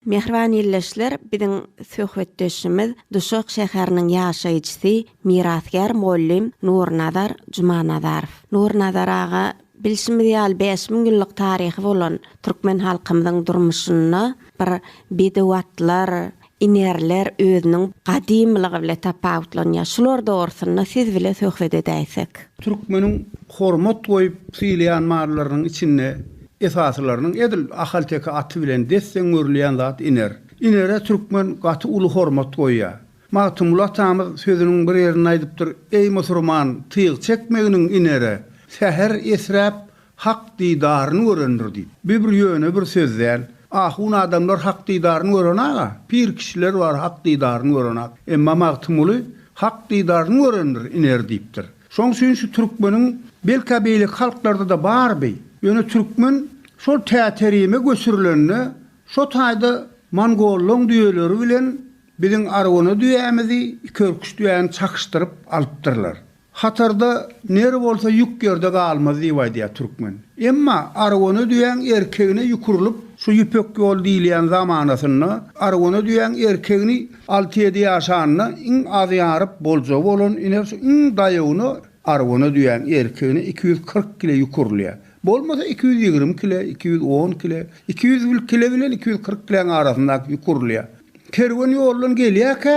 Mähriban ildeşler, biziň söhbetdeşimiz Duşak şäheriniň ýaşaýjysy, mirasgär mugallym Nurnazar Jumanazarow. Nurnazar aga, bilşimiz ýaly, bäş müň ýyllyk taryhy bolan türkmen halkymyzyň durmuşynda bir bedew atlar, inerler özüniň gadymylygy bile tapawutlanýar. Şular dogrusynda siz bile söhbet edäýsek. Türkmeniň hormat goýup sylaýan mallarynyň içinde Esasylarynyň edil ahalteke aty bilen desseň öwrülýän zat Iner. Inere türkmen gaty uly hormat goýýar. Magtymguly atamyz sözüniň bir ýerinde aýdypdyr, Eý musurman, tyg çekmeginiň Inere, säher esräp, Hak didaryny görendir diýip. Bu bir ýöne bir söz däl. Ahun adamlar Hak didaryny görenak-a. Pir kişiler bar Hak didaryny görenak. Emma Magtymguly Hak didaryny görendir Iner diýipdir. Şoň üçin şu türkmeniň, belkä beýleki halklarda-da bardy, ýöne türkmen şol Täterime göçürilende şo taýda mongollaň düýeleri bilen biziň arwana düýämizi, ikiörküç düýäni çakyşdyryp alypdyrlar. Hatarda ner bolsa ýük ýerde galmaz diýip aýdýar türkmen. Emma arwana düýäň erkegine ýük urlup, şu Ýüpek ýol diýilýän zamanasynda arwana düýäň erkegini Alty-ýedi ýaşanda iň az ýaryp boljagy bolan iner şu iň daýawyna arwana düýäň erkegine iki ýüz kyrk kile ýük urulýar. Bolmasa iki ýüz ýigrimi kile, iki ýüz on kile, iki ýüz kile bilen iki ýüz kyrk kiläň arasyndaky ýük urulýar. Kerwen ýoldan gelýärkä,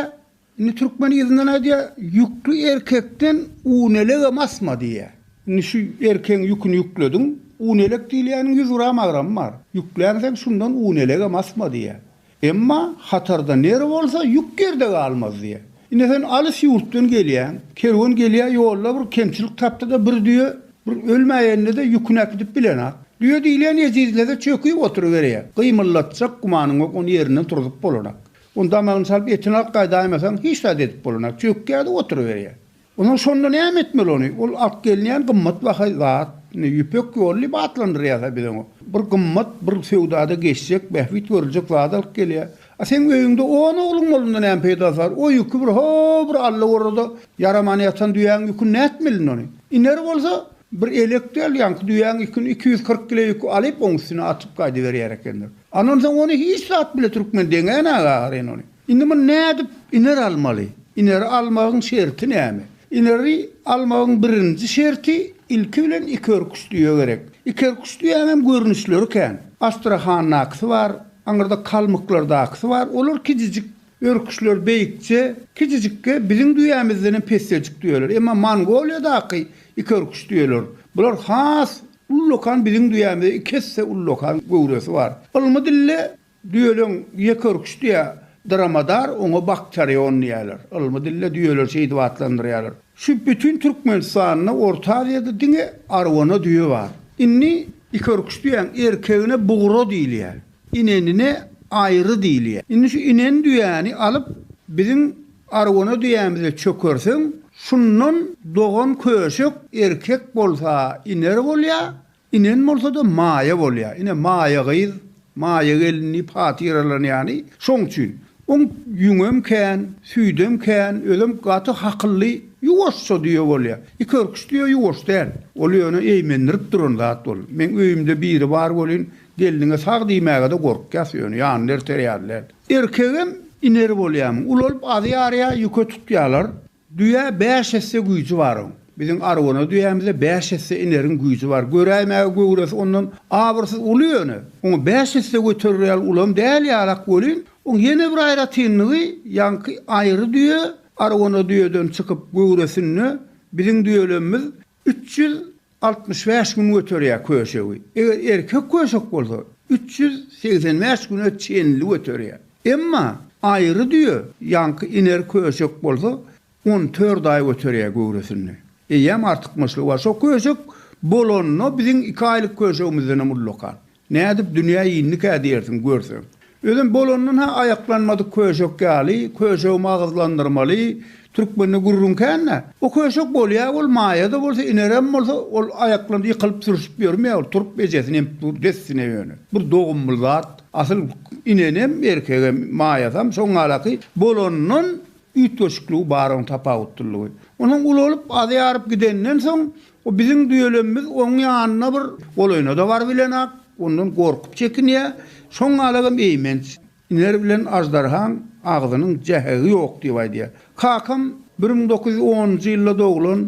indi türkmen yzyndan aýdýar, Ýükli erkekden un elegem asma diýýär. Indi şu erkegiň ýüküni ýüklediň, un elek diýilýäniň ýüz gram agramy bar. Ýüklänseň şundan un elegem asma diýýär. Emma hatarda nere bolsa ýük ýerde galmaz diýýär. Ine sen alys ýurtdan gelýäň, kerwen gelýär ýolda bir kemçilik tapdyda bir düýe bir ölmäýenine-de ýüküni äkidip bilenok. Düýe diýlen ejizlede çöküp oturyberýär. Gymyldatjak gümanyň ýok ony ýerinden turzup bolanok. Ony damagyny çalyp etini alyp gaýdaýmasaň hiç zat edip bolanok. Çökýär-de oturyberýär. Onuň şonda näme etmeli ony? Ol alyp gelinýän gymmat baha zat, indi Ýüpek ýoly diýip atlandyrýarlar biz oňa. Bir gymmat, bir söwdada geçjek, bähbit görüljek zat alyp gelýär. A seň öýüňde on ogluň bolanda näme peýdasy bar? O ýüki bir ho, bir Alla gorada ýaramany ýatan düýäň ýüküni nätmelin ony? Iner bolsa, bir elek däl, ýaňky düýäň ýüküni iki ýüz kyrk kile ýüki alyp oň üstüne atyp gaýdyberýär ekenler. Andan soň ony hiç zat bile türkmen deňän aga agyryn ony. Indi muny nädip iner almaly? Ineri almagyň şerti näme? Ineri almagyň birinji şerti ilki bilen ikiörküç düýe gerek. Ikiörküç düýäňem görnüşleri kän. Astrahandakysy bar, aňyrda kalmyklardakysy bar. Olar kijijik örküçler, beýikje, kijijikge, biziň düýämizdenem pesjejik düýeler. Emma Mongoliýadaky ikiörküç düýeler, bular has ullakan biziň düýämize iki esse ullakan göwresi bar. Ylmy dilde Düýeleň ýekeürküşdi ýa Dromadar, oňa Bakterion diýýärler. Ylmy dilde düýeleri şeýdip atlandyrýarlar. Şu bütin Türkmenistanda, Orta Aziýada diňe Arwana düýe bar. Indi ikeürküş düýäň erkegine bugra diýilýär. Inenine aýry diýilýär. Indi şu inen düýäni alyp biziň Arwana düýämize çökerseň, şundan dogan köşek erkek bolsa iner bolýar, Inen bolsa-da Maýa bolýar. Ine, Maýa gyz, Maýa gelin diýip hatyralanýany şoň üçin. Oň ýüňem kän, süýdem kän, özem gaty hakylly, ýuwaşja düýe bolýar. Ikörküç düýe ýuwaş däl. Ol ýöne eýmendirip duran zat ol. Meň öýümde biri bar welin, gelniňe sag diýmäge-de gorkýas, ýöne ýanynda erter ýaly däl. Erkegem iner bolýarmyň, ulalyp azy ýarýar, ýüke tutýarlar. Düýä bäş esse güýji bar oň. Biziň arwana düýämizde bäş esse ineriň güýji bar. Göräýmäge göwresi ondan abyrsyz uly ýöne, oňa bäş esse göterer ýaly ulam däl ýalak welin, oň ýene bir aýratynlygy, ýaňky aýry düýe arwana düýeden çykyp göwresinde biziň düýelemimiz Üç ýüz altmyş bäş gün göterýär köşegi. Eger erkek köşek bolsa, üç ýüz segsen bäş güne çenli göterýär. Emma aýry düýe, ýaňky iner köşek bolsa, on dört aý göterýär göwresinde. Eýýäm artykmaçlygy bar. Şo köşek bolanda biziň iki aýlyk köşegimizdenem ullakan. Nädip dünýä indikä diýersiň, görseň. Özem bolandan-ha aýaklanmadyk köşek ýaly, köşegi magyzlandyrmaly, türkmende gürrüň kän-dä. O köşek bolýa, ol maýa-da bolsa, inerem bolsa, ol aýaklandy, ýykylyp, sürşüp ýörmä, ol turup ejesini emip dur, dessine ýöne. Bir dogumly zat. Asyl inenem, erkegem, maýasam, şoň galaky, bolandan üýtgeşikligi bar oň tapawutlylygy. Onsoň ulalyp, azaýaryp gidenden soň, O biziň düýelemimiz oň ýanyna bir golaýynada bar bilenak, ondan gorkup çekinýä, şoň galagam eýmenç, iner bilen aždarhaň agzynyň jähegi ýok diýip aýdýa. Kakam bir müň dokuz ýüz onunjy ýylda doglan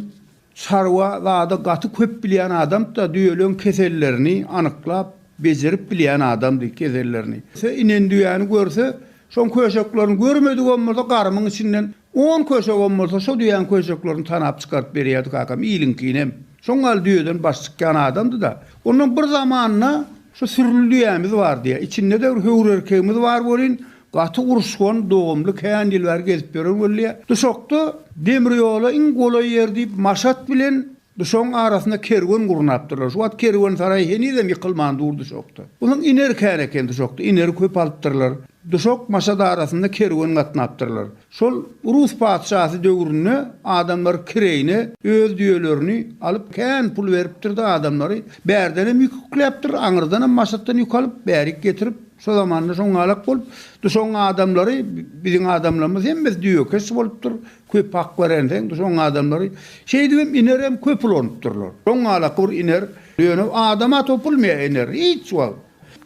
çarwa zada gaty köp bilýän adamtda düýeleň kesellerini anyklap bejerip bilýän adamdy kesellerini. Inen düýäni görse şoň köşeklerini görmedigem bolsa garymyň içinden On köşegem bolsa şo düýäň köşeklerini tanap çykaryp berýärdi kakam, iliňkinem. Şoň gal düýeden baş çykýan adamdy-da. Ondan bir zamanda şu sürüli düýämiz bardy-ýa. Içinde-de bir höwür erkegimiz bar welin, gaty uruşgan, dogumly, kän ýyl bäri gezip ýören welli-ýa. Duşakda demir ýola iň golaý ýer diýip, Maşat bilen. Duşagyň arasynda kerwen gurnapdyrlar. Şu wagt kerwensaraý henizem ýykylman dur duşakda. Onuň ineri kän eken duşakda. Ineri köp alypdyrlar. Duşak Maşat arasynda kerwen gatnapdyrlar. Şol rus patyşasy döwründe adamlar kireýine öz düýelerini alyp kän pul beripdir-de adamlary bärdenem ýük ýükläpdir, aňyrdanam Maşatdan ýük alyp bärik getirip şo zamanda şoňňalak bolup duşagyň adamlary biziň adamlarymyz hemmesi düýekeş bolupdyr. Köp hak berenseň, soň adamlary şeýdibem inerem köp ulanypdyrlar. Soň galak bir iner, ýöne adama topulmaýar iner, hiç wagt.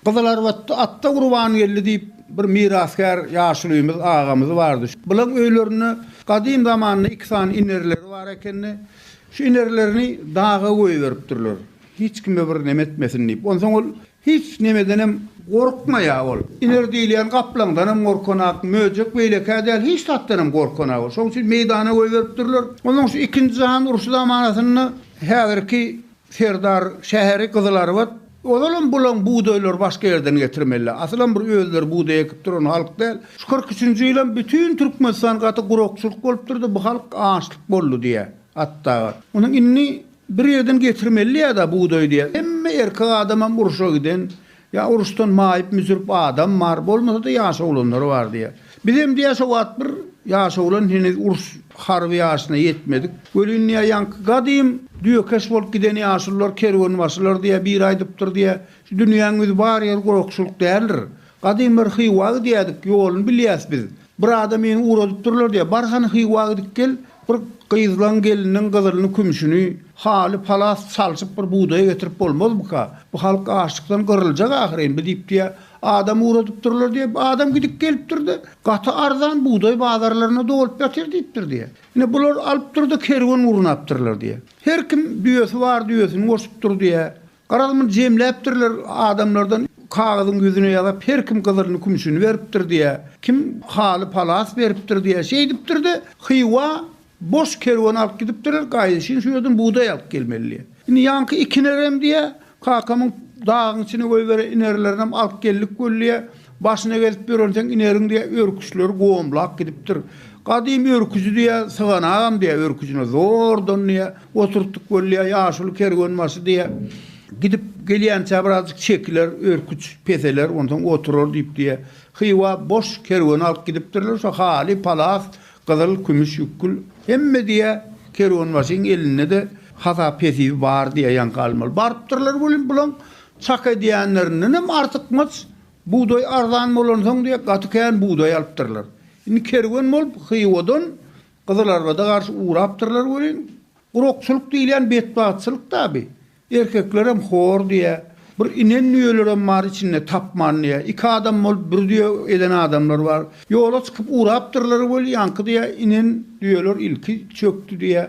Gyzylarbatda Atda Gurbangeldi diýip, bir mirasgär ýaşulymyz, agamyz bardy. Bulaň öýlerinde gadym zamanda iki sany inerleri bar ekeni. Şu inerlerini daga goýberipdirler, hiç kime bir neme etmesin diýip. Onsoň ol Hiç nemedenem gorkmaýar ol. Iner diýilýän gaplaňdanam gorkanak, möjek beýlekä däl, hiç zatdanam gorkanak ol. Şonuň üçin meýdana goýberipdirler. Ondan şu Ikinji jahan urşy zamanasynda häzirki Serdar şäheri Gyzylarbat, ozalam bulaň bugdaýlary başga ýerden getirmeliler. Asylam bir özleri bugdaý ekip duran halk däl. Şu kyrk üçünji ýylam bütin Türkmenistan gaty gurakçylyk bolupdyrdy, bu halk açlyk boldy diýýär Atdaga. Ony indi Bir ýerden getirmeli ýa-da bugdaý diýýär. Hemme erkek adamam urşa giden, ýa uruşdan maýyp-müsrip adam bar, bolmasa-da ýaş oglanlar bar diýýär. Bizem diýýär şo wagt bir ýaş oglan heniz uruş harby ýaşyna ýetmedik. Welin diýýär ýaňky gadym düýekeş bolup giden ýaşulylar kerwenbaşylar diýýär, biri aýdypdyr diýýär, şu dünýäň ýüzi bar ýeri gurakçylyk däldir. Gadym bir Hywa gidýädik, ýoluny bilýäs biz. Bir adam meni ugradypdyrlar diýýär. Bar hany Hywa gidip gel, bir gyzlaň geliniň gyzylyny, kümşüni, haly, palas çalşyp bir bugdaýa getirip bolmazmyka? Bu halk açlykdan gyryljak ahyryn bi diýip diýýär. Adam ugradypdyrlar diýýär. Adam gidip gelipdir-de, gaty arzan bugdaý bazarlaryna dolup ýatyr diýipdir diýýär. Ine, bular alypdyr-da, kerwen gurnapdyrlar diýýär. Her kim düýesi bar düýesini goşupdyr diýýär. Garaz, muny jemläpdirler adamlardan, kagyzyň ýüzüne ýazap, her kim gyzylyny, kümüşini beripdir diýýä, kim haly palas beripdir diýýä. Şeýdipdir-de, Hywa boş kerwen alyp gidipdirler, gaýdyşyn şu ýerden bugdaý alyp gelmeli diýýä. Indi ýaňky iki inerem diýýä, kakamyň dagyň içine goýberen inerlerinem alyp geldik weli diýýä, başyna gezip ýörenseň ineriň diýýä, örküçleri gomlap gidipdir. Gadym örküji diýýä, syganagam diýýä, örküjine zordan diýýä, Oturtdyk bolýar, ýaşuly kerwenbaşy diýýär. Gidip gelýänçä birazjyk çekiler, örküç peseler, onsoň oturar diýip diýýär. Hywa boş kerwen alyp gidipdirler, şo haly, palas, gyzyl, kümüş, ýükgül, hemme diýýär, kerwenbaşyň elinde-de hasap hesibi bar diýýär, ýaňky almaly. Barypdyrlar welin, bulaň çak edýänlerindenem artykmaç bugdaý arzan bolansoň diýýär, gaty kän bugdaý alypdyrlar. Indi kerwen bolup Hywadan Gyzylarbada garşy urapdyrlar welin, gurakçylyk diýilýän betbagtçylyk taby. Erkeklerem hor diýä, bir inen düýelerem bar içinde tapman diýä, iki adam bolup bir düýe eden adamlar bar. Ýola çykyp urapdyrlar weli ýaňky diýä inen düýeler ilki çökdi diýä.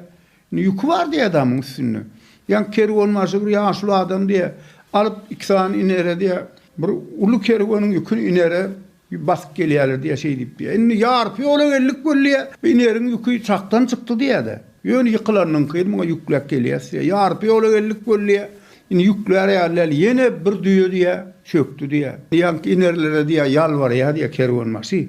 Indi ýüki bar diýä adamyň üstünde. Ýaňky kerwenbaşy bir ýaşuly adam diýä, alyp iki sany inere diýä, bir uly kerweniň ýüküni inere, Basyp gelýärler diýýär, şeý diýip diýýär. Indi ýarpy ýola geldik weli diýýär, bineriň ýüki çakdan çykdy diýýär-de. Ýöne ýykylanyňky muňa ýükläp gelýäs diýýär. Ýarpy ýola geldik weli diýýär, indi ýüklär ýalyl, ýene bir düýe diýýär, çökdi diýýär. Ýaňky inerlere diýýär, ýalbarýar diýýär kerwenbaşy.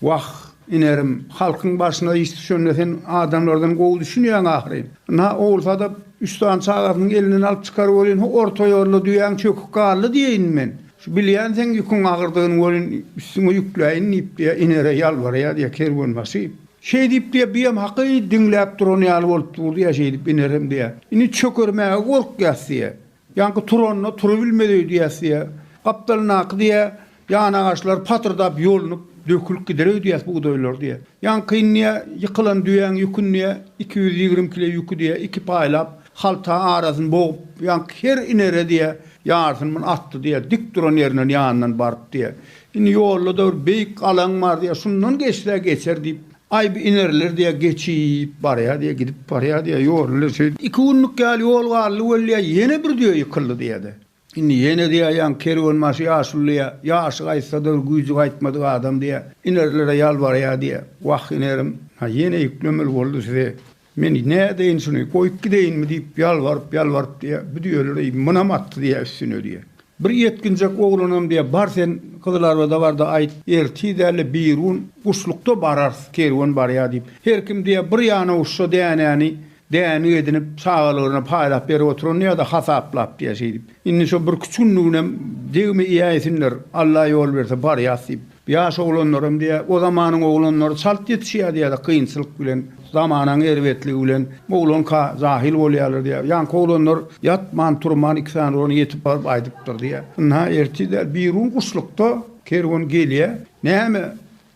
Wah, inerim, halkyň başyna iş düşende sen adamlardan gowy düşünýäň ahyryn. Ynha, ogul sadap üç sany çagasynyň elinden alyp çykaryp welin, ho orta ýolda düýäň çöküp galdy diýeýin men. Şu bilýänsiň ýüküň agyrdygyny welin, üstüňe ýükläýin diýip, diýýär, Inere ýalbarýar, diýýär, kerwenbaşy. Şeý diýip, diýýär, bu hem haky diňläp duran ýaly bolup dur, diýýär, şeýdip, Inerem, diýýär, indi çökermäge gorkýas, diýýär. Ýaňky turanda turubilmedi, diýýär, diýýär. Gapdalyndaky, diýýär, ýanagaçlar patyrdap ýolunyp, dökülip gider, diýýär, bugdaýlar, diýýär. Ýaňky indi, diýýär, ýykylan düýäň ýüküni, diýýär, iki ýüz ýigrimi kile ýüki, diýýär, iki paýlap, Halta arasyny bogup, ýaňky her inere diýe, ýarysyny muny atdy diýe, dik duran ýerinden ýanyndan baryp diýe. Indi ýolda-da bir beýik alaň bar diýe, şundan geçse geçer diýip, aý bir ineriler diýe, geçip barýa diýe, gidip barýa diýe, ýoly-le şeýdip, iki günlük ýaly ýol galdy weli diýe, ýene bir düýe ýykyldy diýe-de. Indi ýene diýäýýäň, kerwenbaşy ýaşulyja, ýaşy gaýtsa-da, güýji gaýtmadyk adam diýýä. Inerilere ýalbarýa diýýä. Wah, inerim, ha ýene ýüklemeli boldy size. Men nädeýin şuny, goýup gideýinmi diýip, ýalbaryp-ýalbaryp diýýä, bu düýeler-eý, munam atdy diýýä üstüne diýýä. Bir ýetginjek oglanam diýýä, bar sen Gyzylarbada bar-da aýt, ertir däl-de birigün guşlukda bararys, kerwen barýa diýip. Her kim diýýä, bir ýana uçsa dänäni Dänik edinip, çagalaryna paýlap berip oturandy ýa-da hasaplap diýýär şeýdip. Indi şo birküç günlüginem degme iýäýsinler, Alla ýol berse barýas diýip. Ýaş oglanlaram diýýär, o zamanyň oglanlary çalt ýetişýärdi ýa-da kynçylyk bilen, zamanaň erbetligi bilen oglanka jahyl bolýarlar diýýär. Ýaňky oglanlar ýatman-turman iki sany urany ýetip baryp aýdypdyr diýýär. Ynha, ertir däl, birigün guşlukda kerwen gelýär. Näme,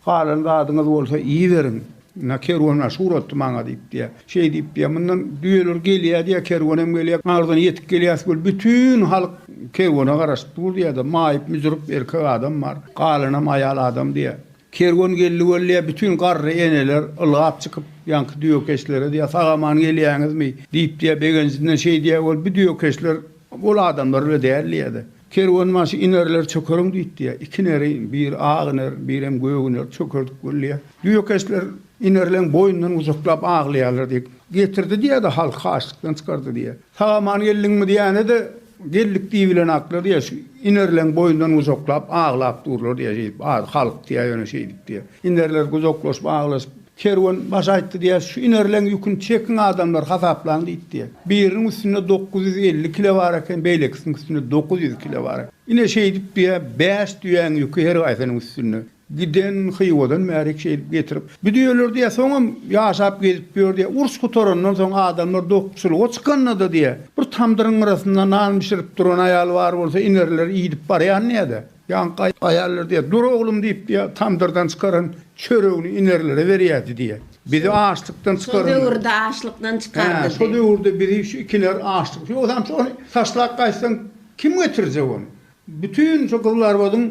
Halan zadyňyz bolsa iýiberiň. Ynha, kerwen aşy uratdy maňa diýip diýýär. Şeý diýip diýýär, mundan düýeler gelýär diýýär, kerwenem gelýär. Arzyna ýetip gelýäs weli, bütin halk kerwene garaşyp dur diýýär-de, maýyp-müjrüp erkek adam bar, galanam aýal adam diýýär. Kerwen geldi weli diýýär, bütin garry eneler ylgap çykyp, ýaňky düýekeşlere diýýär, sag-aman gelýäňizmi? diýip diýýär, begenjinden şeý diýýär weli, bu düýekeşler ol adamlar bile däl diýýär-de. Kerwenbaşy inerler çökeriň diýip diýýär. Iki ineri, biri ak iner, birem gök iner, çökerdik bolýar. Düýekeşler inerleň boýundan gujaklap aglaýarlar diýip, getirdi diýýär-de, halky açlykdan çykardy diýýär. Sag-aman geldiňmi diýende-de, Geldik diýibilenaklar diýýär, şu inerleň boýundan gujaklap aglap durlar diýýär, şeýdip, az halk diýýär, ýöne şeýdip diýýär. Inerler gujaklaşyp aglaşyp, Kerwen baş aýtdy diýýär, şu inerleň ýüküni çekiň adamlar, hasaplaň diýip diýýär. Biriniň üstünde dokuz ýüz elli kile bar eken, beýlekisiniň üstünde dokuz ýüz kile bar eken. Ine, şeýdip diýýär, bäş düýäň ýüki her haýsynyň üstünde. Giden Hywadan bärik şeýdip getirip, bu düýeler diýýär, soňam ýaşap gezip ýör diýýär. Uruş gutarandan soň adamlar dokguçylyga çykanda-da diýýär, bir tamdyryň gyrasynda nan bişirip duran aýal bar bolsa, inerler iýdip barýan diýýär-de. Ýaňky aýallar diýýär, Dur oglum diýip diýýär, tamdyrdan çykaran çöregini inerlere berýärdi diýýär. Bizi açlykdan çykaran. Şol döwürde açlykdan çykardy. Hä, şol döwürde bizi şu ikiler açlyk. Ýogsam şo ony taşlap gaýtsaň kim getirjek ony? Bütin şu Gyzlarbadyň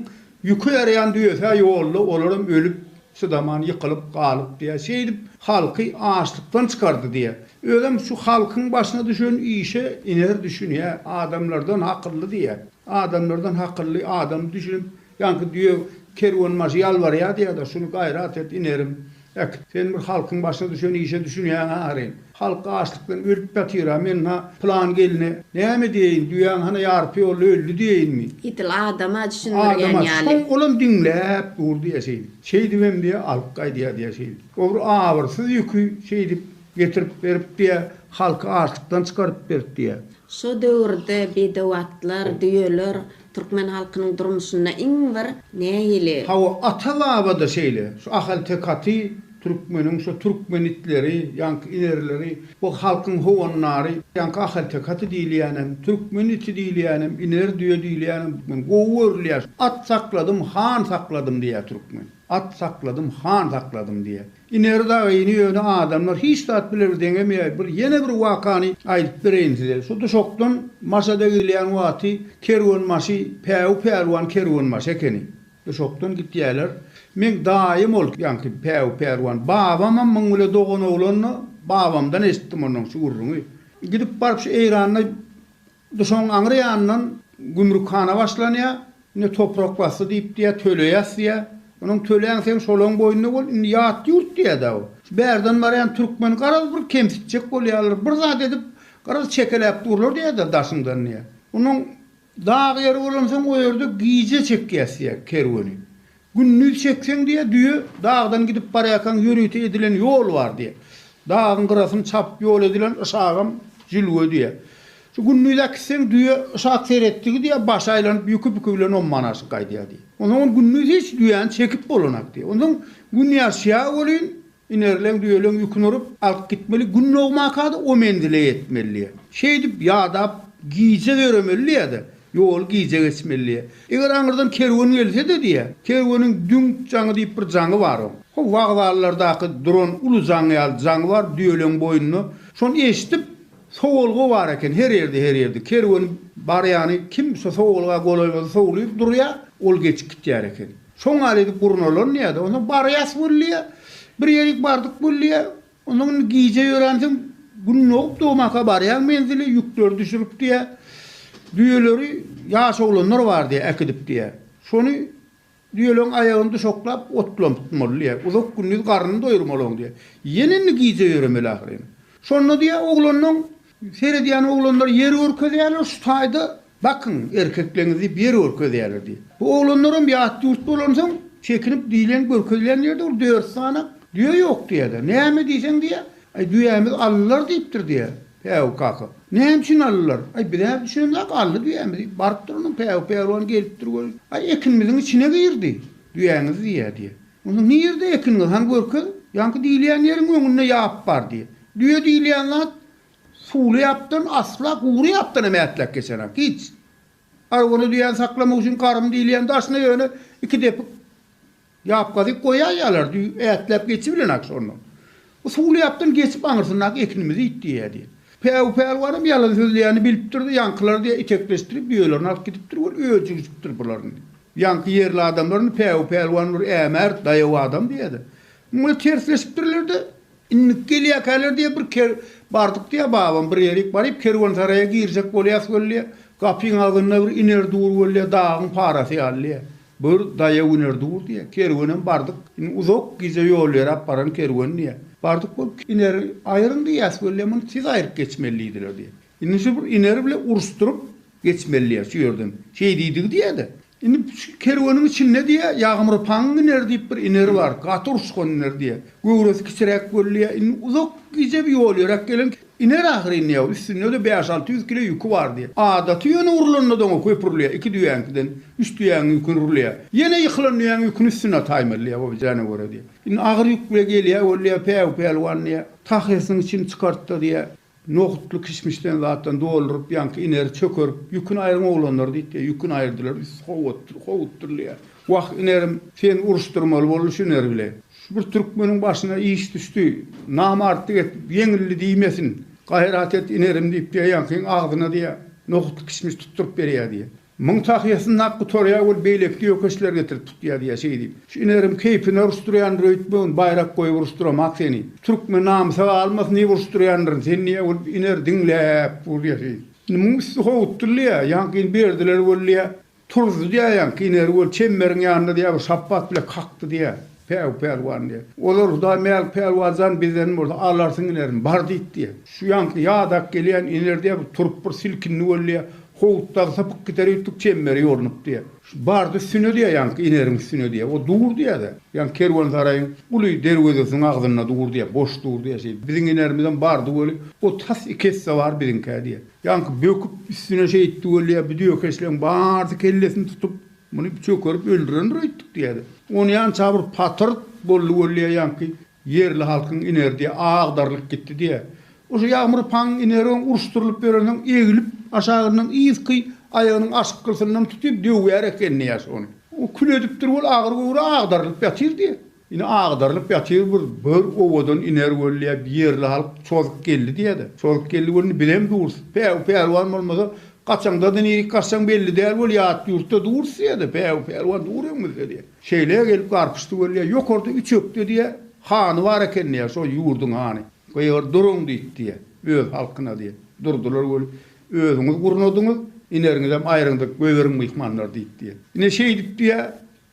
ýüki ýaraýan düýesi-hä ýolda, olaram ölüp, çydaman ýykylyp galyp diýýär. Şeýdip halky açlykdan çykardy diýýär. Özem şu halkyň başyna düşen işe iner düşünýär, adamlardan akylly diýýär. Adamlardan hakylly adam düşünip, ýaňky düýe kerwenbaşy ýalbarýardy ýa-da, Şuny gaýrat et, inerim, ek. Sen bir halkyň başyna düşen işe düşünýäň-ä aryn. Halk açlykdan ölüp ýatyr-a, men-hä pylan gelne näme diýeýin, düýäň hany ýarpy ýolda öldi diýeýinmi? Edil adam-a düşündirýän ýaly. Adam-a, soň olam diňläp dur diýýä şeýdip. Şeýdibem diýýä, alyp gaýdýa diýýä şeýdip. Obry abyrsyz ýüki şeýdip Getirip berip diýä, halky açlykdan çykaryp berip diýä. Şo döwürde bedew atlar, düýeler türkmen halkynyň durmuşynda iň bir nägile. Hawa, ata-baba-da şeýle. Şu ahalteke aty türkmeniň şu türkmen itleri, ýaňky inerleri, bu halkyň howandary, ýaňky ahalteke aty diýilýänem, türkmen iti diýilýänem, iner düýe diýilýänem türkmen gowy görülýär. At sakladym, han sakladym diýýär türkmen. At sakladym, han sakladym diýýär. Iner dagy ini ýöne adamlar hiç zat bilew deňemeýär bir ýene bir wakany aýdyp bereýin size şu duşakdan maşada gidilýän wagty kerwen maşy päwü pälwan kerwen maşy ekeni duşakdan gitýäler meň daýym ol ýaňky päwü pälwan babamam muň bile dogan oglandy babamdan eşitdim ondan şu gürrüňi gidip baryp şu eýranda Duşaň aňry ýanyndan gümrükhana başlanýar. Indi toprak basdy diýip diýýär, töleýäs diýýär. Onuň töläň seň şolaň boýunda bol, indi ýat ýurt diýýär-dä bu. Şu bärden barýan türkmen garaz bir kemsitjek bolýarlar, bir zat edip garaz çekeläp durlar diýýär-de daşyňdan diýýär. Onuň dag ýeri bolansoň o ýerde gije çekýäs diýýär kerweni. Gündiz çekseň diýe düýe dagdan gidip barýarkaň ýörite edilen ýol bar diýe. Dagyň gyrasyny çapyp ýol edilen yşagam jülge diýe. Şu gündiz äkitseň düýe yşak seretdigi diýe başy aýlanyp ýüki püki bilen ommanaşyp gaýdýar diýe. Onsoň ol gündiz hiç düýäni çekip bolanak diýe. Onsoň gün ýaşýar welin Inerleň düýeleň ýüküni urup, alyp gitmeli, gün dogmaka-da o menzile ýetmelidi. Şeýdip, ýadap, gije ýöremelidi-de, ýoly gije geçmelidi. Eger aňyrdan kerwen gelse-de diýýä, kerweniň düň jaňy diýip bir jaňy bar oň. Ho, wokzallardaky duran uly jaň ýaly jaňy bar düýeleň boýnunda. Şony eşidip, sowulgy bar eken, her ýerde, her ýerde. Kerwen barýany, kim şo sowulga golaý bolsa sowlup durýa, ol geçip gitýär eken. Şoň ýaly edip gurnalan diýýä-de, onsoň barýas weli diýýä. Bir ýerik bardyk weli diýýä. Onsoň indi gije ýöränsoň, gün dogup dogmaka barýaň menzile, ýükleri düşürip diýýä. Düýeleri ýaş oglanlar bar diýýä, äkidip diýýä. Şony düýeleriň aýagyny duşaklap otlanpmaly diýýä. Uzak gündiz garnyny doýurmalyň diýýä. Ýene indi gije ýöremeli ahyryn. Şonda diýýä oglanlaň Seredýän oglanlar ýer görkezýärler, şu taýda bakyň, erkekleňiz diýip ýer görkezýärler diýip. Bu oglanlaram ýat ýurt bolansoň, çekinip diýlen, görkezilen ýerde bir dört sany düýe ýok diýýärler. Näme diýseň diýýär, Aý, düýämiz aldylar diýipdir diýýär. Päwük kaka, Näme üçin aldylar? Aý, biz-ä düşünemzok, aldy düýämi diýip barypdyr, ondan Päwük pälwan gelipdir welin, Aý, ekinimiziň içine girdi düýäňiz diýýär diýýär. Onda nirde ekiniňiz, hany görkez? Ýaňky diýilýän ýeriň öňünde ýap bar diýýär. Düýe diýilýän zat suwly ýapdan asla gury ýapdan hem ätläk geçerak, hiç. Arwany düýäni saklamak üçin garym diýilýän daşyna ýöne iki depik ýap gazyp goýaýýarlar, düýe ätläp geçibilenak şondan. Usuly ýapdan geçip aňyrsyndaky ekinimizi it diýýä diýen. Päwü pälwanam ýalan sözleýäni bilipdir-de, ýaňkylar diýýä itekleşdirip düýelerini alyp gidipdir weli öjügjipdir bularyny. Ýaňky ýerli adamlaryny Päwü pälwan bir ämärt, daýaw adam diýýä-de. Muňa tersleşipdirler-de, indik gelýäkäler diýýä bir ker bardyk diýýä babam bir ýerik baryp kerwensaraýa girjek bolýas weli diýýä, gapyň agzynda bir iner dur weli diýýä dagyň parasy ýaly diýýä. Bir daýa güner dur diýýär. Kerwenem bardyk. Indi uzak gije ýol ýöräp baran kerwen diýýär. Bardyk bol Ineri aýryň diýýäs weli muny tiz aýryp geçmeli diýdiler diýýär. Indi şu bir Ineri bile uruşdyryp geçmeli diýýär şu ýerden. Şeý diýdigi diýýä-de. Indi şu kerweniň içinde diýýär Ýagmyr paň Ineri diýip bir Ineri bar. Gaty uruşgan Ineri diýýär. Göwresi kiçiräk weli diýýär. Indi uzak gije bir ýol ýöräp gelen Iner ahyryn diýýä, üstünde-de bäş-alty ýüz kile ýüki bar diýýä. Adaty ýöne urlanda-da oňa köp urulýa, iki düýäňkiden üç düýäň ýüküni urulýa. Ýene ýykylan düýäň ýüküni üstüne ataýmaly diýýä, obajana görä diýýä. Indi agyr ýük bile gelýä ol diýýä, Päw pälwan diýýä, tahyrysyň içini çykart-da diýýä, nohutly kişmişden zatdan dolduryp ýaňky ineri çökerip, ýüküni aýryň oglanlar diýdi diýýä. Ýüküni aýyrdylar, üsti howutdyr, howutdyr diýýä. Wah, inerim, sen uruşdyrmaly boldy şu ineri bile. Şu bir türkmeniň başyna iş düşdi. Namartlyk etdi, ýeňildi diýmesin. Gaýrat et, inerim diýip, beýlekiniň agzyna diýýä, nohut-kişmiş tutduryp berýä diýýä. Muň tahýasy nak gutarýa weli beýleki ýökeşler getirip tutýa diýýä, şeý diýip. Şu inerim keýpini uruşdyrýandyr öýtmegin, baýrak goýup uruşdyramak seni. Türkmen namysa galmasyn diýip uruşdyrýandyryn seni diýýä weli iner diňläp dur diýýä şeý. Indi muň üsti howutdyldy ýa, ýaňky indi berdiler weli diýýä. Turdy diýýär ýaňky iner göl çemberiň ýanynda diýýär bir şapbat bile kakdy diýýär Päwük pälwan diýýär. Olar Hudaý Mälik pälwan jan bizden bolsa alarsyň inerin bar diýdi diýýär. Şu ýaňky ýadak gelýän iner diýýär bir turup bir silkindi boldy diýýär. Howut dagy sypyp gider üýtdük çemberi ýornup diýýär. Şu bardy üstüne diýýär ýaňky ineriň üstüne diýýär. O dur diýýär-de. Ýaňky kerwensaraýyň uly derwezesiniň agzynda dur diýýär. Boş dur diýýär şeýdip. Biziň inerimizem bardy göli o tas iki esse bar biziňkä diýýär. Ýaňky böküp üstüne şeýtdi weli-ä bu dökeçleň barsy kellesini tutup, muny çökerip öldürendir öýtdük diýýärdi. Onýança bir patyrt boldy weli-ä ýaňky ýerli halkyň inerdi, agdarylyp gitdi diýýär. Oşo Ýagmyr paň ineroň uruşdyrylyp ýörensoň eglip aşagyndan yzky aýagynyň aşkgysyndan tutyp döwýär ekeni ýaş ony. O kül edipdir weli agyr göwre agdarylyp ýatyr diýýär. Ine, agdarylyp ýatyr bir böwür owadan iner wöllä bir ýerli halk çozup geldi diýädä. Çozup geldi wöllini bizem durus. Päwü pälwan bolmasa, gaçaňda-da nirik gaçsaň belli däl wöl ýat ýurtda durus diýädä. Päwü pälwan dur öňümizde diýä. Şeýle gelip garpyşdy wöllä. Ýokarda üç ökde diýä, hany bar eken diýä, şol ýurduň hany. Gygyr duruň diýip diýä, öz halkyna diýä. Durdular wöli. Özüňiz gurnadyňyz, ineriňizem aýryňdyr, göýberiň myhmanlary diýip diýä. Ine şeýdip diýä,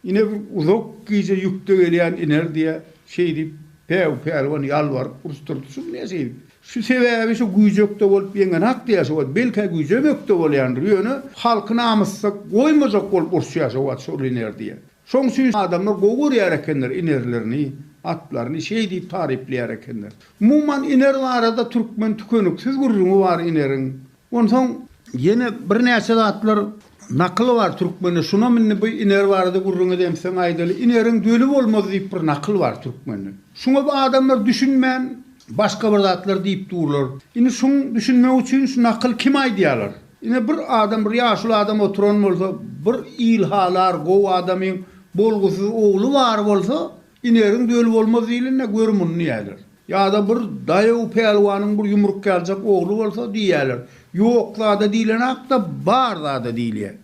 Ine bir uzak gije ýükde gelýän iner diýýä, şeý diýip, Päw pälwan ýalbaryp uruşdyrdy. Şuny näçe diýip, şu sebäbi şu güýjekde bolup ýeňenak diýýä şu wagt. Belkä güýjem ökde bolýandyr, ýöne halky namyssyz goýmajak bolup uruşýa şu wagt şol iner diýýä. Şoň üçin adamlar gowy görýär ekenler inerlerini, atlaryny şeý diýip taryplaýar ekenler. Umuman iner barada türkmen tükeniksiz gürrüňi bar ineriň. Onsoň ýene birnäçe zatlar nakyl bar türkmende. Şunam indi bu iner barada gürrüň edemseň aýdaly. Ineriň döli bolmaz diýip bir nakyl bar türkmende. Şuňa bu adamlar düşünmän başga bir zatlar diýip durlar. Indi şuň düşünmek üçin şu nakyl kim aýdýarlar? Ine bir adam bir ýaşuly adam oturan bolsa, bir il halar gowy adamyň bolgusyz ogly bar bolsa, Inegiň döli bolmaz diýlende gör muny diýýärler. Ýa-da bir daýaw pälwanyň bir ýumruk ýaljak ogly bolsa diýýärler, Ýok zada diýlenak-da, bar zada diýilýär.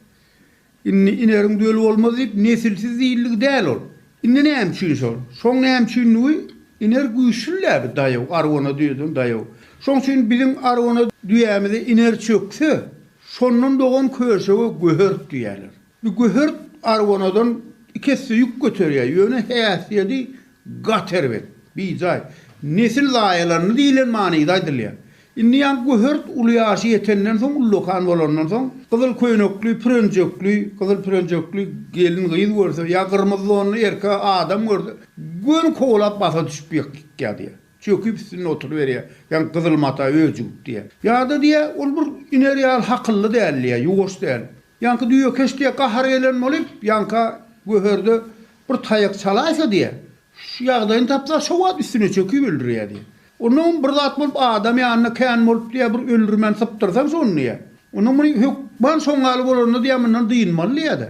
Indi inegiň döli bolmaz diýip, nesilsiz diýildigi däl ol. Indi näme üçin şol? Şoň näme üçindigi, iner güýçli-dä bi daýaw, arwana düýeden daýaw. Şoň üçin biziň arwana düýämize iner çökse, şondan dogan köşege göhert diýýärler. Bu göher argonadan iki esse ýük göterýär, ýöne häsiýedi gaty erbet, bijaý. Nesil zaýalandy diýlen manyda aýdylýar. Indi ýa göher uly ýaşy ýetenden soň, ullakan bolandan soň, gyzyl köýnekli, pürenjekli, gyzyl pürenjekli gelin-gyz görse, ýa gyrmyzy donly erkek adam görse, göni kowlap basa düşüp ýykýar diýýär. Çöküp üstünde oturyberýär, ýa gyzyl mata öjügip diýýär. Ýa-da diýýär, ol bir iner ýaly hakylly däl diýýär, ýuwaş däl. Ýaňky düýekeş diýe gahary gelen bolup, ýaňka göherde bir taýak çalaýsa diýe, şu ýagdaýyny tapsa, şo wagt üstüne çöküp öldürýä diýe. Onnoň bir zat bolup adam ýanyna kän bolup diýe, bir öldürmän sypdyrsaň şony diýe, onnoň muny hökman şoň ýaly bolanda diýe, mundan dynmaly diýe-de.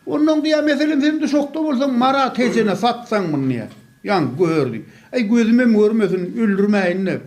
Onnoň diýe, meselem, sen duşakda bolsaň, Marat ejene satsaň muny diýe, ýaňky göherdi. Äý, gözümem görmesin, öldürmäýin-de,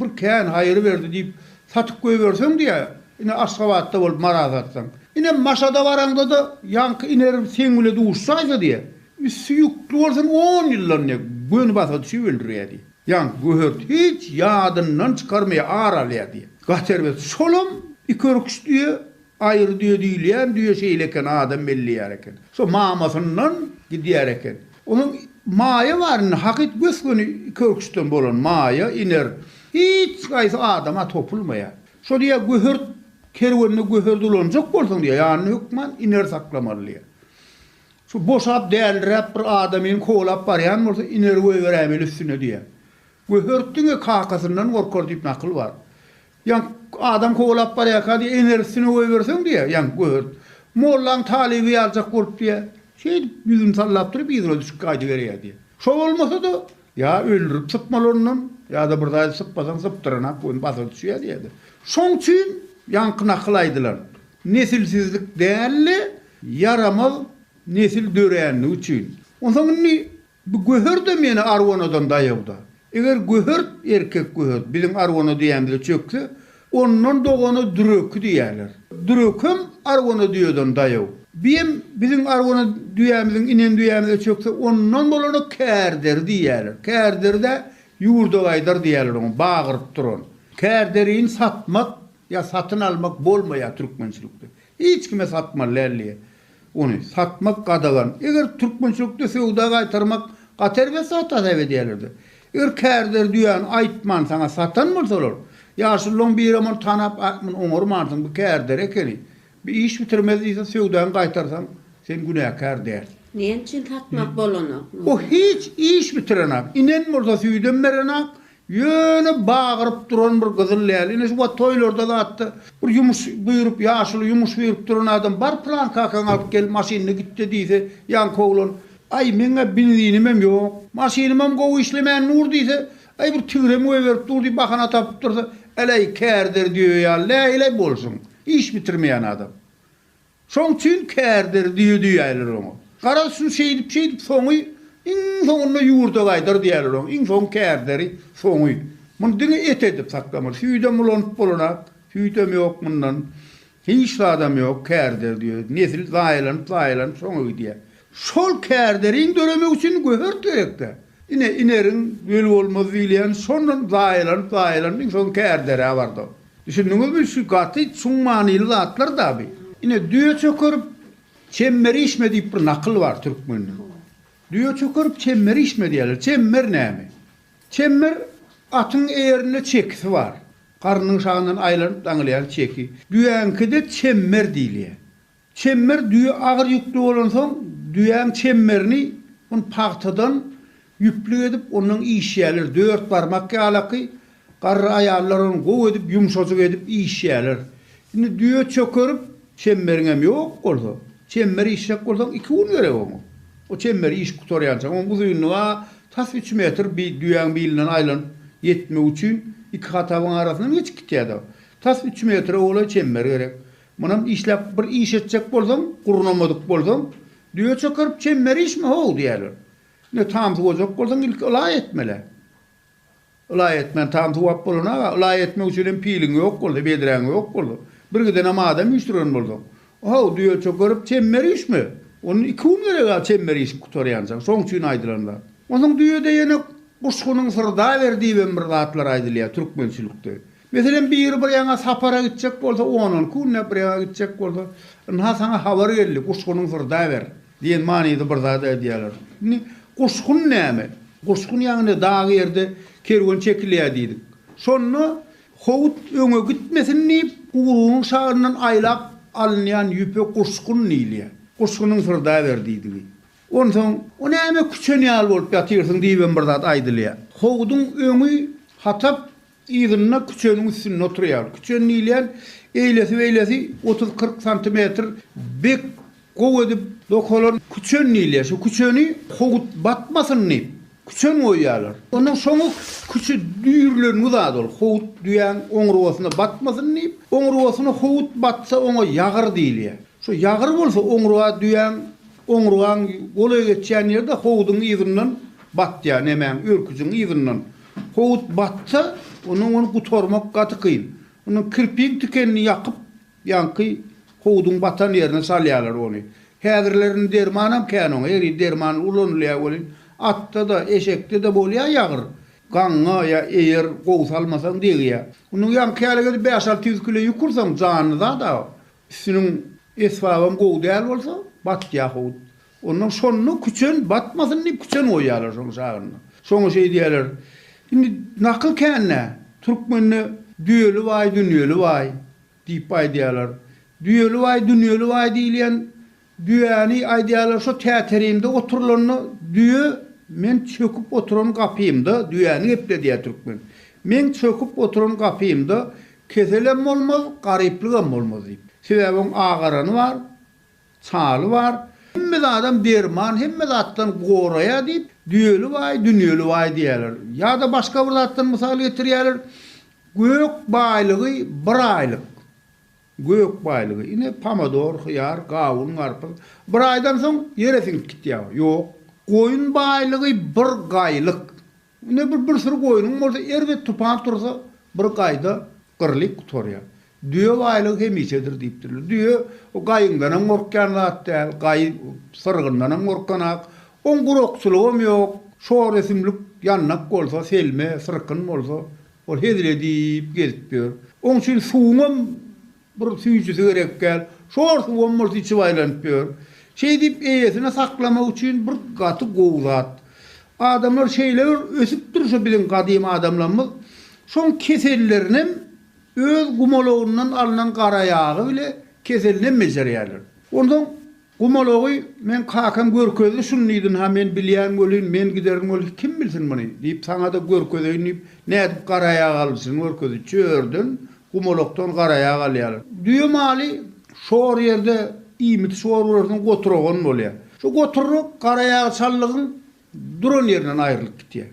bir kän haýyr berdi diýip, Satyp goýberseň diýä, ine Aşgabatda bolup Mara satsaň. Ine Maşada baraňda-da ýaňky inerim seň bile duşaýsa diýä, üsti ýükli bolsun on ýyldan diýä, göni basa düşüp öldürýä diýä. Ýaňky göhert hiç ýadyndan çykarmaýar, ar alýar diýä. Gaty erbet. Şolam iki örküç düýe Aýry düýe diýilýän düýe şeýle eken, adam belleýär eken. Şo mamasyndan gidýär eken. Onuň maýa bar indi, hakyt gös-göni iki örküçden bolan maýa, iner. Hiç haýsy adama topulmaýar. Şo diýýär, göhert kerwenine göher dolanjak bolsaň diýýär, ýanyna hökman iner saklamaly diýýär. Şu boşap, däliräp bir adamyny kowlap barýan bolsa, ineri goýberäýmeli üstüne diýýär. Göhert diňe kakasyndan gorkar diýip nakyl bar. Ýaňk adam kowalap barýarka diýýär, Ener üstüne goýberseň diýýär, ýaňk gögert. Mollaň talyby ýaljak bolup diýýär. Şeýdip ýüzüni sallap durup yzyna düşüp gaýdyberýär diýýär. Şo bolmasa-da, ýa öldürip sypmaly ondan, ýa-da bir zady sypasaň sypdyranak göni basa düşýär diýýärdi. Şoň üçin ýaňky nakyl aýdylan. Nesilsizlik däl-de, ýaramaz nesil dörändigi üçin. Onsoň indi Bu göher-de meni arwanadan daýawda. Eger göhert, erkek göhert, biziň arwana düýämize çökse, ondan dogana düreki diýerler. Dürekem arwana düýeden daýaw. Biem biziň arwana düýämiziň inen düýämize çökse, ondan bolana kärderi diýerler. Kärderi-dä ýurdabaýdar diýerler oňa, bagyryp duran. Kärderini satmak ýa satyn almak bolmaýar türkmençilikde. Hiç kime satmaly däl diýýär. Ony satmak gadagan. Eger türkmençilikde söwda gaýtarmak gaty erbet zat hasap edýärler-de. Eger kärdeler düýäni aýtman saňa satan bolsalar, ýaşulylaň birem ony tanap a muny oňarmansyň, bu kärder ekeni, bi iş bitirmez diýse söwdaňy gaýtarsaň, sen günäkär däl. Näme üçin satmak bolanok muny? O hiç iş bitirenak. Inen bolsa süýdem berenak, Ýöne bagyryp duran bir gyzyl däl. Ine şu wagt toýlarda zatda bir ýumuş buýrup, ýaşuly ýumuş buýrup duran adam bar pylan kakaňy alyp gel, maşynyny gitde diýse, ýaňky oglan, Aý, meň-ä benzinimem ýok, maşynymam gowy işlemän dur diýse, aý bir tigrem goýberip dur diýip bahana tapyp dursa, äläý kärder düýe ýaly läý-läý bolsun. Iş bitirmeýän adam. Şoň üçin kärdir düýe diýýärler oňa. Garaz, şu şeýdip-şeýdip soňy iň soňunda ýurda gaýdar diýýärler oňa. Iň soň kärderi, soňy. Muny diňe et edip saklamaly. Süýdem ulanyp bolanak, süýdem ýok mundan. Hiç zadam ýok, kärdir düýe. Nesil zaýalanyp-zaýalanyp soňy gidýär. Şol kärderiň döremegi üçin göhert gerek-dä. Ine, ineriň, öl bolmaz diýilýän şondan zaýalanyp-zaýalanyp iň soň kärdere bardy. Düşündiňizmi, şu gaty çuň manyly zatlar dabi. Ine, düýe çökerip, çemmer işme diýip bir nakyl bar türkmende. Düýe çökerip, çemmer işme diýýärler. Çemmer näme? Çemmer, atyň eýerinde çekisi bar. Garnyň şagyndan aýlanyp daňylýan çeki. Düýäňkide çemmer diýilýär. Çemmer düýe agyr ýükli bolansoň, düýäň çemmerini un pagtadan ýüplük edip, ondan işýärler. Dört barmak ýalaky garry aýallar ony gowy edip, ýumşajyk edip işýärler. Indi düýe çökerip, çemmeriňem ýok bolsa, çemmer işjek bolsaň, iki gün gerek oňa. O çemmeri işip gutarýançaň, onuň uzynlygy-a tas üç metr, bi, düýäň bilinden aýlanyp ýetmek üçin iki hatabyň arasyndan geçip gitýär-de. Tas üç metre golaý çemmer gerek. Munam işläp bir iş etjek bolsaň, gurnamadyk bolsaň, düýe çökerip çemmer işme how diýerler. Ine tam suwajak bolsaň ilki ylaý etmelä. Ylaý etmän tam suwap bolanaga, ylaý etmek üçin hem piliň ýok bolsa, bedräň ýok bolsa, bir gidenem adam üýşdüren bolsaň, how düýe çökerip çemmer işme. Ony iki gün gereg-ä çemmer işip gutarýança. Şoň üçin aýdylan zat. Onsoň düýede ýene guşgynyň syrdaber diýibem bir zatlar aýdylýar türkmençilikde. Meselem, biri bir ýaňa sapara gitjek bolsa, ondan künde bir ýaňa gitjek bolsa, Ynha, saňa habar geldi, guşgunyň syrda ber! diýen manyda bir zat aýdýarlar. Indi, guşgun näme? Guşgun ýagny dag ýerde kerwen çekilýär diýdik. Şonda howut öňe gitmesin diýip, guyrugynyň şagyndan aýlap alynýan ýüpe guşgun diýilýär. Guşgunyň syrda ber diýdigi. Onsoň, O näme küçen ýaly bolup ýatyrsyň diýibem bir zat aýdylýar. Howudyň öňi hatap, Yzynda küçeniň üstünde oturýar. Küçen diýilýän eýlesi-beýlesi otuz-kyrk santimetr bek gowy edip dokalan küçen diýilýär. Şu küçeni howut batmasyn diýip, küçen goýýarlar. Ondan soňy küçi düýrlengi zat ol. Howut düýäň oňurgasyna batmasyn diýip, oňurgasyna howut batsa, oňa ýagyr diýilýär. Şu ýagyr bolsa, oňurga düýäň oňurgaň golaý geçýän ýerde howudyň yzyndan batýar, nemäň, örküjiň yzyndan. Howut batsa, ondan ony gutarmak gaty kyn. Ondan kirpiň tikenini ýakyp, ýaňky howudyň batan ýerine salýarlar ony. Häzirlerinde dermanam kän oňa, her ýerde derman ulanylýar welin, atda-da, eşekde-de bolýar ýagyr. Gaňňa ýa eýer gowy salmasaň degýär. Ondan ýaňky ýaly gezip bäş-alty ýüz kilo ýük ursaň, janly zat-a. Üstüniň esbabam gowy däl bolsa, batýar howut. Ondan şonda küçen batmasyn diýip küçen goýýarlar şonuň şagynyna. Şoňa şeý diýýärler. Indi nakyl kän-dä. Türkmende düýeli baý, dünýeli baý diýip aýdýarlar. Düýeli baý, dünýeli baý diýilýän düýäni aýdýarlar şo täterimde oturylanda düýe men çöküp oturan gapymda düýäni gepledýär türkmen. Meň çöküp oturan gapymda keselem bolmaz, garyplygam bolmaz diýip. Sebäbi oň agarany bar, Çaly bar. Hemme zadam derman, hemme zatdan goraýar diýip, düýeli baý, dünýeli baý diýýärler. Ýa-da başga bir zatdan mysal getirýärler, Gök baýlygy bir aýlyk. Gök baýlygy. Ine, pomidor, hyýar, gawun, garpyz. Bir aýdan soň ýere siňip gitýär. Ýok. Goýun baýlygy bir gaýlyk. Ine bir bir süri goýnuň bolsa erbet tupan tursa bir gaýda gyrlyp gutarýar. Düýe baýlygy hemişedir diýipdirler. Düýe o gaýyňdanam gorkýan zat däl, gaýy syrgyndanam gorkanak. Oň gurakçylygam ýok. Şor ösümlik ýandak bolsa, selme, syrkyn bolsa ol hezil edip gezip ýör. Oň üçin suwuňam Bir süýjüsi gerek däl. Şor suwam bolsa içip aýlanyp ýör. Şeýdip eýesine saklamak üçin bir gaty gowy zat. Adamlar şeýle bir ösüp dur şu biziň gadym adamlarymyz. Şoň kesellerinem öz gumalagyndan alnan garaýagy bile keselinem bejerýärler. Onsoň Gumalagy meň kakam görkezdi, şuny diýdin-ha, men bilýän welin, men giderin welin, kim bilsin muny? diýip, saňa-da görkezeýin diýip, nädip garaýag alyjyny görkezdi. Çörden, gumalakdan garaýag alýarlar. Düýe maly şor ýerde iýmiti şor bolarsyň, goturagan bolýar. Şu goturyk garaýagy çallygyň Duran ýerinden aýrylyp gitýär.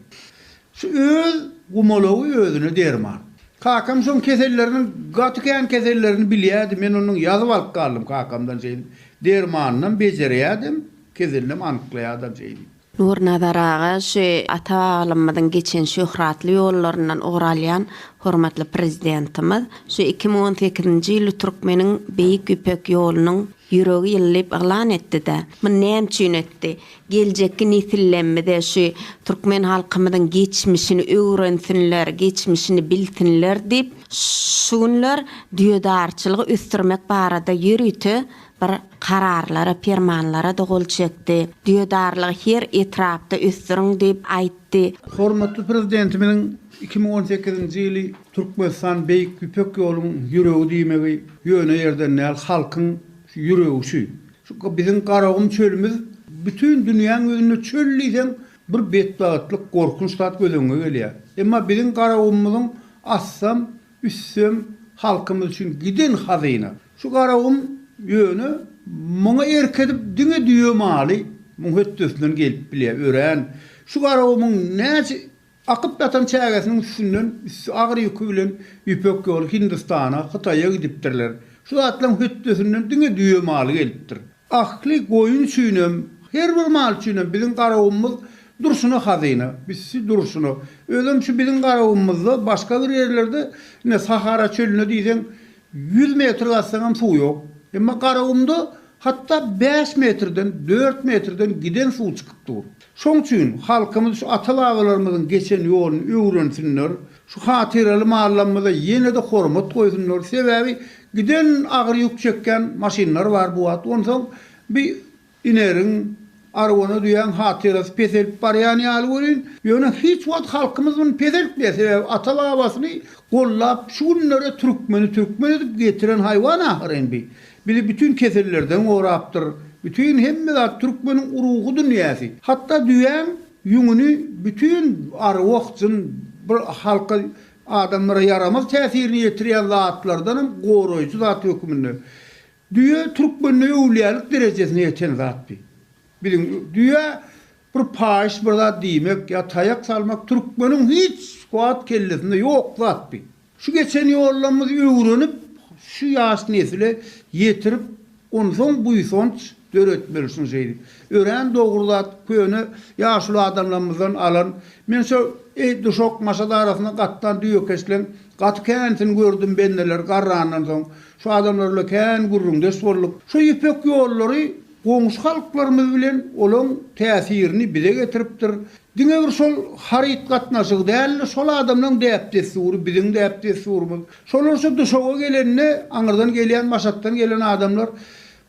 Şu öz gumalagy özüne derman. Kakam şoň keselleriniň gaty kän kesellerini bilýärdi, men ondan ýazyp alyp galdym kakamdan şeýdip. Dermanynam bejerýädim, keselinem anyklaýardam şeýdip. Nurnazar aga şu ata-babalymyzyň geçen şöhratly ýollaryndan ugur alýan hormatly Prezidentimiz şu iki müň on sekizinji ýyly türkmeniň Beýik Ýüpek ýolunyň ýüregi ýyly diýip yglan etdi-de, muny näme üçin etdi? Geljekki nesillemmize şu türkmen halkymyzyň geçmişini öwrensinler, geçmişini bilsinler diýip, şu günler düýedarçylygy ösdürmek barada ýörite bir kararlara, permanlara-da gol çekdi. Düýedarlygy her etrapda ösdüriň diýip aýtdy. Hormatly Prezidentimiziň iki müň on sekizinji ýyly Türkmenistan Beýik Ýüpek ýoluň ýüregi diýmegi ýöne ýerden däl, halkyň ýüregi şu. Şu biziň Garagum çölümiz bütin dünýäň ýüzünde çöl diýseň bir betbagtlyk, gorkunç zat göz öňüňe gelýär. Emma biziň Garagumymyzyň assam, üssem halkymyz üçin giden hazyna. Şu Garagum ýöne muňa erk edip diňe düýe maly muň hötdesinden gelip bilýär. Örän şu Garagumyň näçe Akyp ýatan çägesiniň üstünden üsti agyr ýüki bilen Ýüpek ýoly Hindistana, Hytaýa gidipdirler. Şu zatlaryň hötdesinden diňe düýe maly gelipdir. Ahli goýun üçinem, her bir mal üçinem biziň garawumyz durşuna hazyna, bizi durşuna. Özem şu biziň garawumyzda başga bir ýerlerde, ine, Sahara çölüne diýseň, Ýüz metr gazsaňam suw ýok. Emma Garagumda hatda bäş metrden, dört metrden giden suw çykyp dur. Şoň üçin halkymyz şu ata-babalarymyzyň geçen ýoluny öwrensinler, şu hatyraly mallamyza ýene-de hormat goýsunlar. Sebäbi giden agyr ýük çekýän maşynlar bar bu wagt. Onsoň bi Ineriň, arwana düýäň hatyrasy peselip barýan ýaly welin, ýöne hiç wagt halkymyz muny peseltmeýär, sebäbi ata-babasyny gollap, şu günlere türkmeni türkmen edip getiren haýwan ahyry indi. Bizi bütin kesellerden gorapdyr. Bütin hemme zat türkmeniň ruhy dünýäsi. Hatda düýäň ýüňüni bütin arwah, jyn bir halka, adamlara ýaramaz täsirini ýetirýän zatlardanam goraýjy zat hökmünde. Düýe türkmende öwlüýälik derejesine ýeten zatdy. Biziň düýä bir paýyş bir zat diýmek ýa taýak salmak türkmeniň hiç wagt kellesinde ýok zatdy. Şu geçen ýollarymyz öwrenip, şu ýaş nesle ýetirip, onsoň buýsanç döretmeli şuny şeýdip. Örän dogry zat, köne ýaşuly adamlarymyzdan alan. Men şu Eýduşok, Maşat arasynda gatnan düýekeşleň gaty känisini gördüm bendeler garrandan soň. Şu adamlarla kän gürrüňdeş bolduk. Şu ýüpek ýollary goňşy halklarymyz bilen olaň täsirini bize getiripdir. Diňe bir şol haryt gatnaşygy däl-de, şol adamlaň däp-dessury, biziň däp-dessurymyz. Şolar şu Duşawa gelende, aňyrdan gelýän, Maşatdan gelen adamlar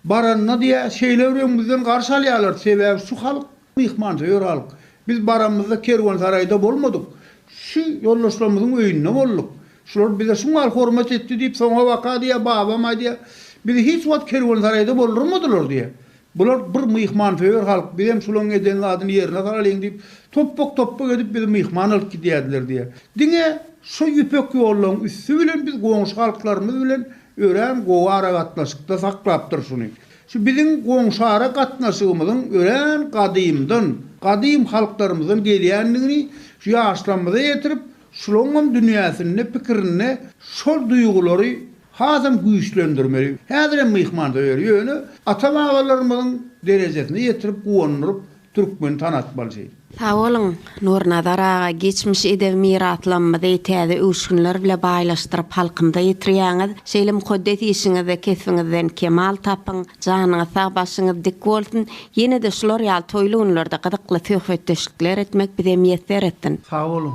baranda diýýär, şeýle bir öňümizden garşy alýarlardy, sebäbi şu halk Myhmança ýör alyk. Biz baranymyzda kerwensaraýda bolmadyk. Şu ýoldaşlarymyzyň öýünde bolduk. Şular bize şu mahal hormat etdi diýip, soňabaka diýýär, babam aýdýar, Bizi hiç wagt kerwensaraýda boldurmadylar diýýär. Bular bir myhmansöýer halk, bizem şularyň eden zadyny ýerine salalyň diýip, topbak-topbak edip bizi myhman alyp gidýärdiler diýýär. Diňe şu ýüpek ýollaryň üsti bilen biz goňşy halklarymyz bilen örän gowy aragatnaşykda saklapdyr şuny. Şu biziň goňşy-ara gatnaşygymyzyň örän gadymdan, gadym halklarymyzdan gelýändigini şu ýaşlarymyza ýetirip, şulaňam dünýäsinde, pikirinde şol duýgulary hasam güýçlendirmeli. Häzirem myhmansoýer, ýöne ata-babalarymyzyň derejesine ýetirip, guwandyryp Türkmeni tanatmalyjy. Sag boluň, Nurnazar aga, geçmiş edebi miraslamymyzy täze öwüşginler bile baýlaşdyryp halkymyza ýetirýäňiz. Şeýle mukaddes işiňizde kesbiňizden kemal tapyň, janyňyz sag, başyňyz dik bolsun. Ýene-de şular ýaly toýly günlerde gyzykly söhbetdeşlikler etmek bize miýesser etsin. Sag boluň.